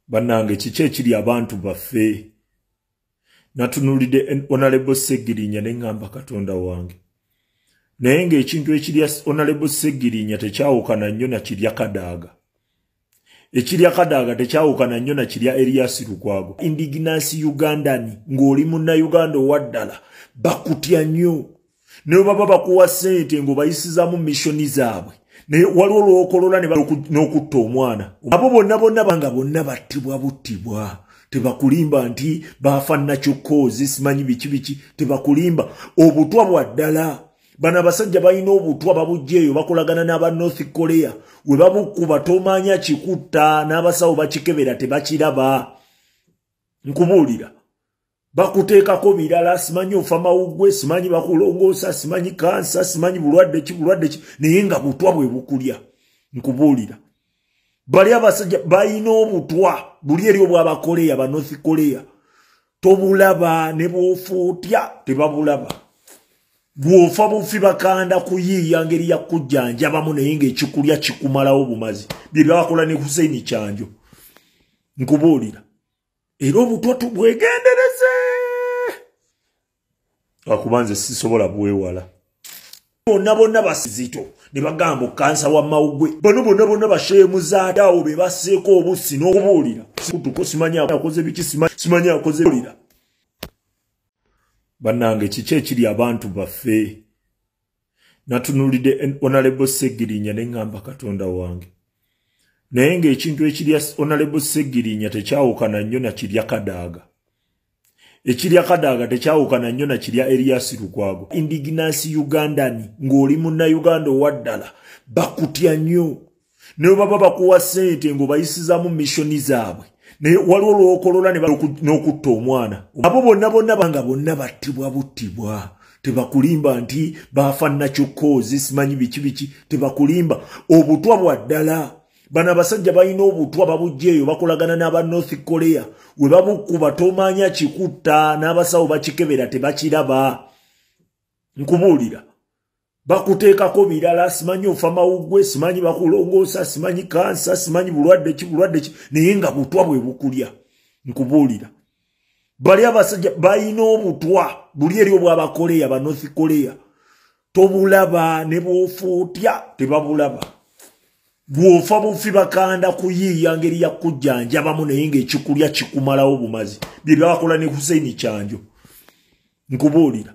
banange kiki ekiri abantu baffe natunulidde onalebo segirinya neŋamba katonda wange naye ngaekintu ekirya onalebo segirinya tekyawukana nnyo nakirya kadaaga ekirya kadaaga tekyawukana nnyo nakirya eriyasi lukwago indiginansi ugandani ng'oli munnauganda owaddala bakutya nnyo naye baba bakuwa sente ngaobayisizamu missioni zaabwe naye waliwo lwokolola n'okutta omwana abo bonna bonna banga bonna battibwa buttibwa tebakulimba nti baafa nakyokoozi simanyi biki biki tebakulimba obutwa bwa ddala bano abasajja balina obutwa babujja eyo bakolagana n'aba north korea we babukuba tomaanya kikutta n'abasawo bakikebera tebakiraba nkubuulira bakuteekako birala simanyi ofa mawuggwe simanyi bakulongoosa simanyi kansa simanyi bulwadde ki bulwadde ki naye nga butwa bwe bukulya nkubuulira bali abasajja balina obutwa buli eri obwabakoleya ba north koleya tobulaba ne bwofa otya tebabulaba bwofa bufi bakanda kuyiiya ngeri ya kujjanjabamu naye ngaekikulya kikumalawo bumazi bye byakola ne huseini kyanjo nkubuulira era obutwa tubwegendereze akuba nze sisobola bwewala bonna bonna basizito ne bagamba okansa wa mawugwe bano bonna bonna basheemuzaade awo be baseeko obussi n'okubuulira kutuko simanyi akoze biki simanyi akoze buulira bannange kiki ekiri abantu baffe natunulidde onalebo segirinya ne ŋŋamba katonda wange naye ng'ekintu ekirya onalebo segirinya tekyawukana nnyo na kirya kadaaga ekirya kadaaga tekyawukana nnyo na kirya eriyasi lukwago indiginansi ugandani ng'oli munnauganda owaddala bakutya nnyo ne baba bakuwa sente ngo bayisizamu mission zaabwe naye waliwo lwokolola n'okutta omwana abo bonna bonna banga bonna battibwa buttibwa tebakulimba nti baafa nakyokoozi simanyi biki biki tebakulimba obutwa bwa ddala bano abasajja balina obutwa babujja eyo bakolagana n'aba north korea we babukuba tomaanya kikutta n'abasawo bakikebera tebakiraba nkubuulira bakuteekako birala simanyi ofa mawuggwe simanyi bakulongoosa simanyi kansa simanyi bulwadde ki bulwadde ki naye nga butwa bwe bukulya nkubuulira bali abasajja balina obutwa buli eri obwabakoleya ba north koleya tobulaba ne bwofa otya tebabulaba bwofa bufi bakanda kuyiiya ngeri ya kujjanjabamu naye ngaekikulya kikumalawo bumazi bye byakola ne huseini kyanjo nkubuulira